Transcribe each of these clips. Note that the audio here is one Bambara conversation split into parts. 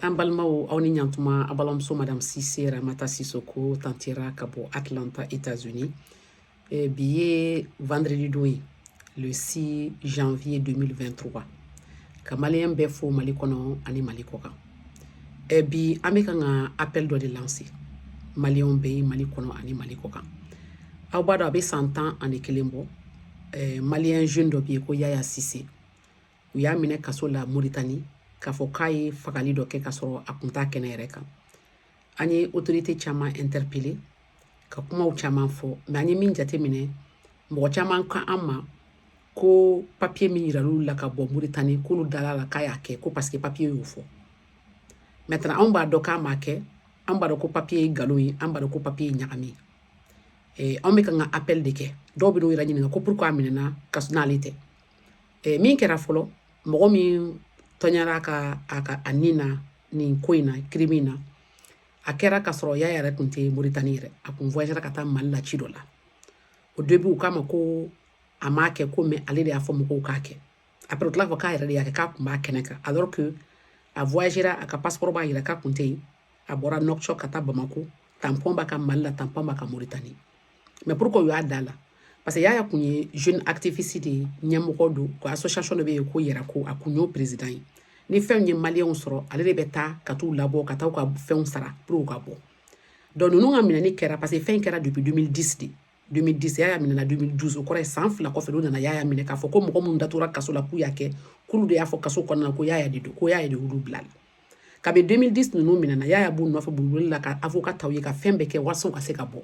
an balimaw aw ni ɲantuma a balimamuso madame sise ramata sisoko tantira ka bɔ atlanta états unis eh, bi ye vendredi don ye le 6 janvier 2023 ka maliyɛn bɛɛ fo mali kɔnɔ ani mali kɔ kan eh, bi an bɛ kan ka appel dɔ de lancer maliyɛnw bɛɛ ye mali kɔnɔ ani mali kɔ kan aw b'a dɔn a bɛ san tan ani kelen bɔ eh, maliyɛn jeune dɔ bɛ yen ko yaya sise u y'a minɛ kaso la moritani k'a fɔ k'a ye fagali dɔ kɛ k'a sɔrɔ a kun t'a kɛnɛ yɛrɛ kan an ye autorité caman interpeller ka kumaw caman fɔ mais an ye min jate minɛ mɔgɔ caman k'an ma ko papiye min yiral'u la ka bɔ moritani k'olu dal'a la k'a y'a kɛ ko parce que papiye y'o fɔ maintenant anw b'a dɔn k'a m'a kɛ an b'a dɔn ko papiye ye nkalon ye an b'a dɔn ko papiye ye ɲagami ye anw bɛ kan ka appel de kɛ dɔw bɛ n'u yɛrɛ ɲininka ko pourquoi a minɛna ka n'ale tɛ eh, min kɛra fɔlɔ mɔgɔ min tɔɲɔra ka a ka a ni na nin ko in na crime in na a kɛra ka sɔrɔ yaya yɛrɛ tun tɛ moritani yɛrɛ a kun voyagera ka taa mali la ci dɔ la au début u k'a ma ko a m'a kɛ ko mais ale de y'a fɔ mɔgɔw k'a kɛ après u tila k'a fɔ k'a yɛrɛ de y'a kɛ k'a kun b'a kɛnɛ kan alors que a voyagera a ka passeport b'a yira k'a kun tɛ yen a bɔra nouakchott ka taa bamako tanpɔn b'a kan mali la tanpɔn b'a kan moritani mais pourquoi u y'a d'a la parce que yaya kun ye jeune activiste de ye ɲɛmɔgɔ don ko association dɔ bɛ yen ko yɛrɛko a kun y'o président ye ni fɛnw ye maliyɛnw sɔrɔ ale de bɛ taa ka t'u labɔ ka taa u ka fɛnw sara pour u ka bɔ donc ninnu ka minɛni kɛra parce que fɛn kɛra depuis 2010 de 2010 yaya minɛna 2012 o kɔrɔ ye san fila kɔfɛ olu nana yaya minɛ k'a fɔ ko mɔgɔ minnu datugura kaso la k'u y'a kɛ k'olu de y'a fɔ kaso kɔnɔna ko yaya de don ko yaya de y'olu bil'a la kabi 2010 ninnu minɛna yaya b'u nɔfɛ boliboli la ka avocat ta u ye ka fɛn bɛɛ kɛ walasa u ka se ka bɔ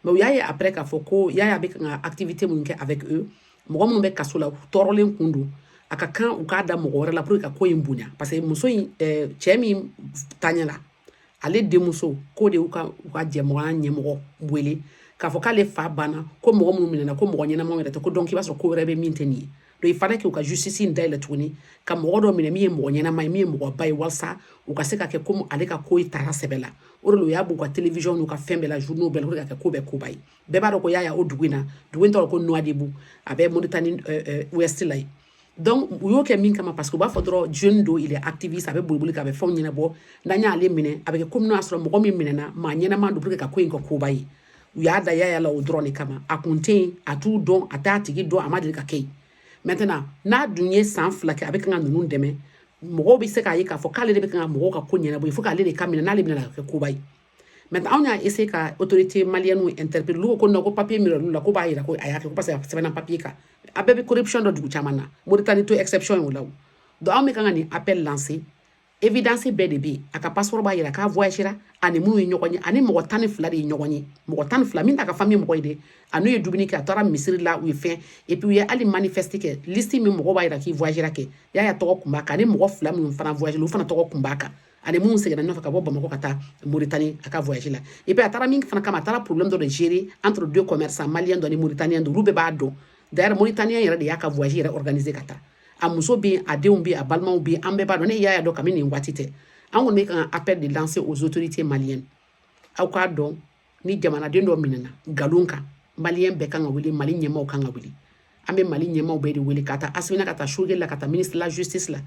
mais u y'a ye après k'a fɔ ko yaya bɛ ka activité minnu kɛ avec eux mɔgɔ minnu bɛ kaso la u tɔɔrɔlen kun don a ka kan u k'a da mɔgɔ wɛrɛ la pour que ka ko in bonya parce que muso in eh, cɛ min taɲɛla ale denmuso k'o de y'u ka u ka ɲɛmɔgɔya ɲɛmɔgɔ wele k'a fɔ k'ale fa banna ko mɔgɔ minnu minɛna ko mɔgɔ ɲɛnamaw yɛrɛ tɛ ko donc i b'a sɔrɔ ko wɛrɛ bɛ min tɛ nin ye donc il fallait que u ka justice in dayɛlɛ tuguni ka mɔgɔ dɔ minɛ min ye mɔgɔ ɲɛnama ye min ye mɔgɔba ye walasa u ka se ka kɛ komi ale ka ko in tara sɛbɛ la o de la u y'a b'u ka télévision n'u ka fɛn bɛɛ la journaux bɛɛ la pour que ka kɛ ko bɛɛ koba ye bɛɛ b'a dɔn ko yaya o dugu in na dugu in tɔgɔ ko Nouadhibou a bɛ Mauritanie euh, euh, ouest la yen donc u y'o kɛ min kama parce que u b'a fɔ dɔrɔn jeune don il est activiste a bɛ boliboli kɛ a bɛ fɛnw ɲɛnabɔ n'an y'ale minɛ a bɛ kɛ komi n'o y'a sɔrɔ mɔgɔ min minɛna maa ɲɛnama don pour que ka ko in kɛ koba ye u y'a da yaya la o dɔrɔn de kama a kun tɛ yen a t'u dɔn a t'a tigi dɔn a ma deli ka kɛ yen maintenant n'a dun ye san fila kɛ a bɛ kan ka ninnu dɛmɛ mɔgɔw bɛ se k'a ye k'a fɔ k'ale de bɛ kan ka mɔgɔw ka ko ɲɛnabɔ fo k'ale de ka minɛ n'ale minɛna kɛ koba ye maintenant anw y'a essayé ka autorités maliennes interpeller olu ko non ko papier min yiral'u la k'o b'a yira ko a y'a kɛ parce que a sɛbɛnna papier kan an bɛɛ bɛ corruption dɔn dugu caman na moritani tɛ exception ye o la o donc anw bɛ kan ka nin appel lancer évidence bɛɛ de bɛ a ka passeport b'a yira k'a voyagera a ni minnu ye ɲɔgɔn ye a ni mɔgɔ tan ni fila de ye ɲɔgɔn ye mɔgɔ tan ni fila min t'a ka famille mɔgɔ ye dɛ a n'u ye dumuni kɛ a taara misiri la u ye fɛn et puis u ye hali manifeste kɛ liste min mɔgɔ b'a yira k'i voyagera kɛ yaya tɔgɔ kun b'a kan a ni mɔgɔ fila minnu fana voyagera olu fana tɔgɔ kun b'a kan a ni minnu seginna ɲɔgɔn fɛ ka bɔ bamakɔ ka taa moritani a ka voyage la et puis a taara min fana kama a taara problème dɔ de gérer entre deux commerçants malien dɔ ni mauritanien dɔ olu bɛɛ b'a dɔn d'ailleurs mauritanien yɛrɛ de y'a ka voyage yɛrɛ organiser ka taa a muso bɛ yen a denw bɛ yen a balimaw bɛ yen an bɛɛ b'a dɔn ne yaya dɔn kabini nin waati tɛ an kɔni bɛ ka appel de lancer aux autorités maliennes aw k'a dɔn ni jamanaden dɔ minɛna nkalon kan maliyɛn bɛɛ kan ka wuli mali ɲɛmaaw kan ka wuli an bɛ mali ɲɛmaaw bɛɛ de wele ka taa asimi na ka taa choguel la ka taa ministre de la justice la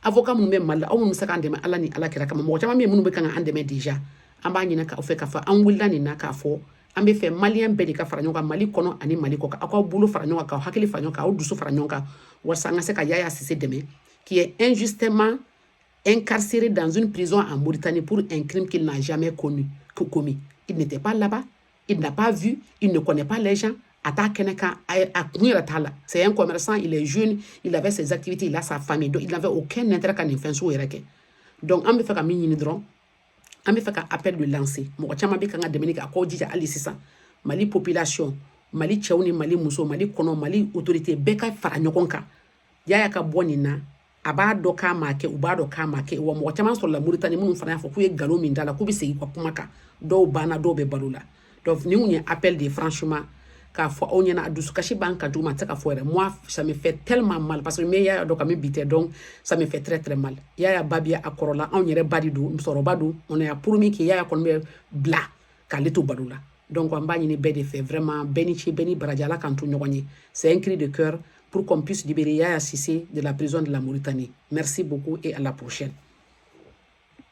avocat minnu bɛ mali la aw minnu bɛ se k'an dɛmɛ ala ni ala kira kama mɔgɔ caman bɛ yen minnu bɛ kan ka an dɛmɛ déjà an b'a ɲinink'aw fɛ k'a fɔ an wulila nin na k'a fɔ an bɛ fɛ maliyɛn bɛɛ de ka fara ɲɔgɔn kan mali kɔnɔ ani mali kɔkan aw k'aw bolo fara ɲɔgɔn kan k'aw hakili fara ɲɔgɔn kan k'aw dusu fara ɲɔgɔn kan walasa an ka se ka yaya sise dɛmɛ qui est injustement incarcéré dans une prison en Mauritanie pour un crime qu'il n'a jamais connu, commis. Il n'était pas là-bas, il n'a pas vu, il ne connaît pas les gens. C'est un commerçant, il est jeune, il avait ses activités, il a sa famille, donc il n'avait aucun intérêt ka nin fɛn Donc, an bɛ fɛ ka nin dɔrɔn. an bɛ fɛ ka appel de lancer mɔgɔ caman bɛ kan ka dɛmɛni kɛ aw k'aw jija hali sisan mali population mali cɛw ni mali muso mali kɔnɔ mali autorité bɛɛ ka fara ɲɔgɔn kan yaya ka bɔ nin na a b'a dɔn k'a ma kɛ u b'a dɔn k'a ma kɛ wa mɔgɔ caman sɔrɔla moritani minnu fana y'a fɔ k'u ye nkalon min d'a la k'u bɛ segin u ka kuma kan dɔw banna dɔw bɛ balo la donc nin kun ye appel de ye franchement k'a fɔ aw ɲɛ na a dusukasi b'an kan juguman a tɛ se ka fɔ yɛrɛ moi ça me fait tellement mal parce que ne yaya dɔn kabini bi tɛ donc ça me fait très très mal yaya ba bi a kɔrɔla anw yɛrɛ ba de don musokɔrɔba don on a promis que yaya kɔni bɛ bila k'ale to balo la donc an b'a ɲini bɛɛ de fɛ vraiment bɛɛ ni ce bɛɛ ni baraji ala k'an to ɲɔgɔn ye c'est un cri de cœur pour qu'on puisse libérer yaya sise de la prison de la mauritanie merci beaucoup et à la prochaine